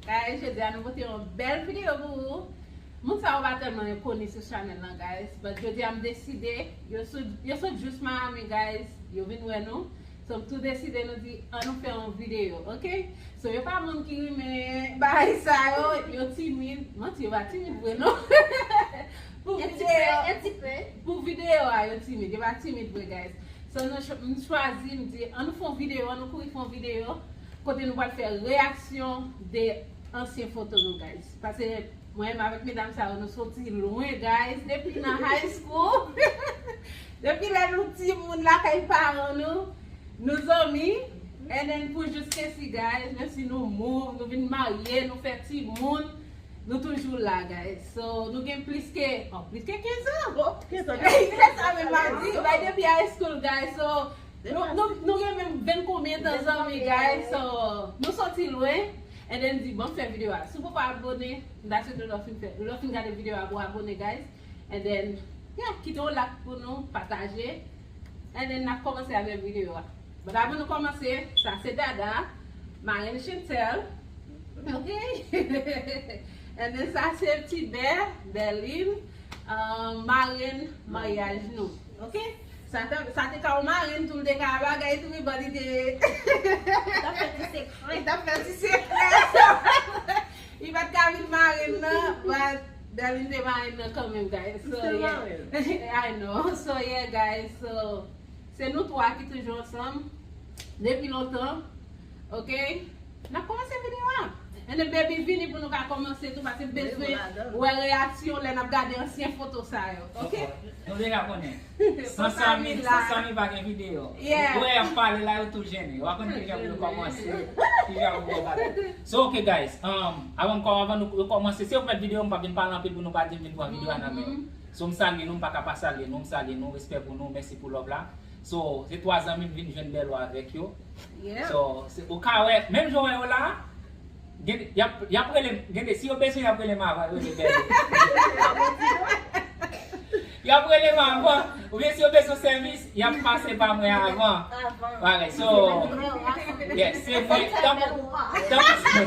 Guys jodi a nou pote yon bèl video pou ou Moun sa yo pa tèlman yon koni sou chanèl lan guys But jodi a m deside Yo sou yo sot jous Miami guys Yo vin wè nou So m tou deside nou di an nou fè yon video ok So yo pa moun ki rinmen bagay sa yo Yo timid Manti yo pa timid vre non Pou video Un ti peu Pou video a yo timid Yo pa timid vre guys So nou m chwazi m di an nou fon video an nou kouri fon video Kote nou pral fè reyaksyon de ansyen foto nou guys pase mwen menm avèk medam sa yo nou soti lwen guys depi nan high school depi lè nou timoun lakay paran nou nou zanmi and then pou jiskesi guys menmsi nou move nou vin marye nou fè timoun nou toujou la guys so nou gen plis ke oh plis ke 15 ans oh se sa menm map di bay depi high school guys so Nou gen menm ven konbyen tan zanmi guys so nou soti lwen and then di banm fè video a si w poko abone m ta swete lè w fin fè lè w fin gade video a pou w abone guys and then yeah kite yon lak pou nou pataje and then nap kòmanse avèk video a but avan nou kòmanse sa se Dada marenn Chantel ok and then sa se Tibè Berline marenn maryaj nou ok. Sa te ka yon marenn tou l te ka bagay tou wi bon li te Li tap fè ti sekrè Li tap fè ti sekrè se vre Li pat ka vin marenn nan but Darline te marenn nan kanmenm guys so yeah I know so yeah guys so se nou 3 ki toujou ansanm depi lontan ok. Nap komanse video a? Anyway baby vini pou nou ka komanse tou paske m bezwen wè reyaksyon w lè nap gade ansyen foto sa yo ok. Nou deja konnen San Samy San Samy pa gen video Ou wè yap pale la yo tou jennen yo pa konn kijan pou yo komanse kijan pou yo bagay So ok guys Avan m avan nou komanse si yo met video m pap vin pale anpil pou nou pa di m vin pran video a nan men yo So m salye nou m paka pa salye nou m salye nou respè pou nou mèsi pou love la So se 3 zanmim vin jwenn Belo avek yo. So se ou ka we menm jan ou we yo la gen yap relem gen de si yo bezwen yap relem avan yo rele Belo. Yap relem avan ou byen si yo bezwen sevis yap pase pa mwen avan. Alright so yes se mwen tankou tankou.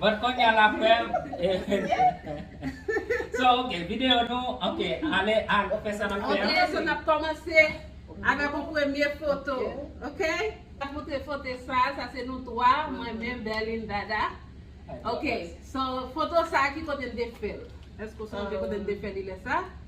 But konya la frem So ok video nou ok ale al fe sa nap fe an. Ok so nap komanse avek yon premye foto ok. Nap montre fote sa sa se nou 3 mwen menm Berline Dada ok so foto sa ki kote n te fel eske w sonje kote n te fel li le sa.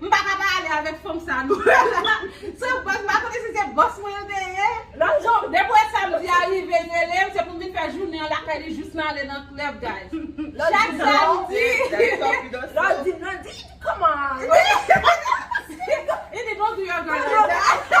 M paka pa ale avèk fanm sa nou wè la. Se bòs m pa konnen si se bòs mwen l te ye. Lanzon, depi w wè samdi a rive n rele m se pou m vin fè jounen an lakay li jous n ale nan club guys. Chak samdi. Landy, Landy, come on. He did not do your girl like that.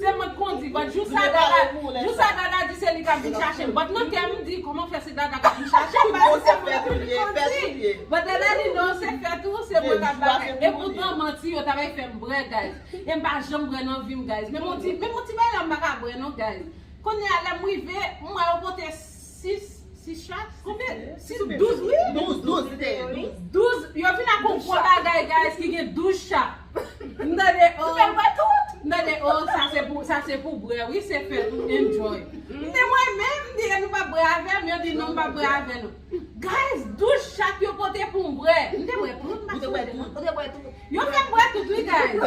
Se mwen k kondi but jou sa dada jou sa dada di se li kap vin chache m but nan kè m m di koman fè se dada kap vin chache m paske se mwen toujou ki kondi but dada di non se fèt ou se mwen kap bagay e poutan manti yo ta bay fè m brè guys e m pa janm brè nan vi m guys menm on ti menm on ti bagay la m pa ka brè non guys kounya lè m rive m wè yo pote 6 6 chat konbyen 6 ou 12 wi 12 12 li te ye 12 12 yo vin ak yon gwo bagay guys ki gen 12 chat m tande oh m fè l wè tout m tande oh sa se pou sa se pou bwè wi se fèt ou enjoy m di mwen menm m di e nou pap bwè avè m yo di non m pap bwè avè nou guys 12 chat yo pote pou m bwè m te bwè tout m pa sonje nan. Yo fem bwè tout wi guys.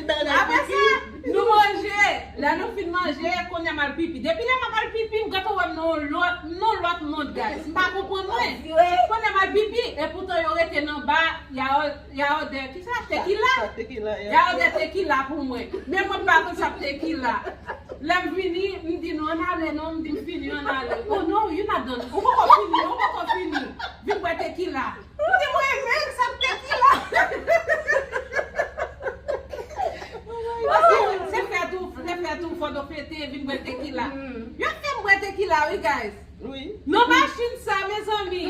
Apre sa nou manje. Lè nou fin manje kounye a m al pipi. Depi lè map al pipi ou gentan wè m nan yon lòt nan lòt mond guys. M pa konprann mwen. Kounye a m al pipi epoutan yo rete nan ba ya odè kisa? Tekila? Ya odè tekila pou mwen. Men mwen pa konn sa k tekila. Lè m vini m di nou an ale non m di m fini an ale. Oh non you not done. Ou poko fini ou poko fini. Vin bwè tekila. Ou te mwen menm sa m te di la. Se fèt ou se fèt ou fòt ou fete vin bwè tekila. Yo ap fè m bwè tekila wi guys. Nan machin sa mezanmi.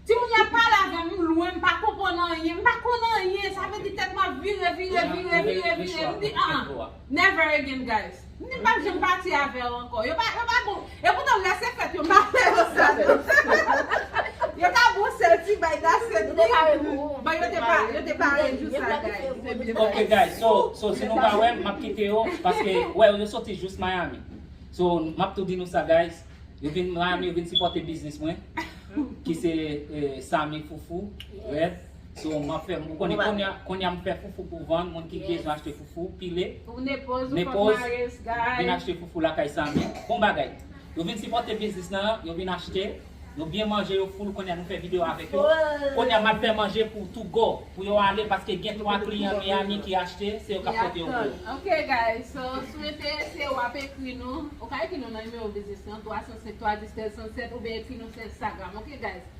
Timoun yo ap pale avè m m lwen m pa konprann anyen m pa konn anyen sa vle di tèt m ap vire vire vire vire vire m di an. Never again guys M pap janm pati avew anko Yo pa bon E poutan lè se fèt yo m pa fè yo sa non Yo ta bon sel ti bay da sèt mi Bon yo te pare yo te pare jou sa guys Ok guys so so si nou pa wem map kite yo paske wè yo soti jous Miami So map tou di nou sa guys Yo vin Miami yo vin sipote biznis mwen Ki se Samy Foufou Red So map fè m ou konnen kounya kounya m fè foufou pou vann moun ki bezwen achte foufou pile Nepoz vin achte foufou lakay Samy bon bagay yo vin sipòte biznis nan yo vin achte yo byen manje yo full kounya nou fè video avèk yo kounya map fè manje pou to go pou yo ale paske gen 3 kliyan Miami ki achte se yo kap pote yo pou yo. Ok guys so si w enterese wap ekri nou ou ka ekri nou nan nimewo biznis lan 307 310 1307 oubyen ekri nou sou Instagram ok guys.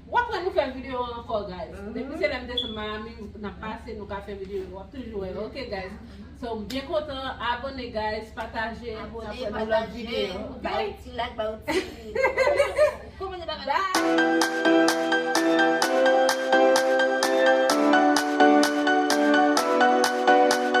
Wap wè nou fè video an ankò guys depi se lèm desann Miami nap pase nou ka fè video yo wap toujou wè ok guys so m byen kontan abone guys pataje nap wè nou lòt video ok ba yon ti like ba yon ti komante ba bye.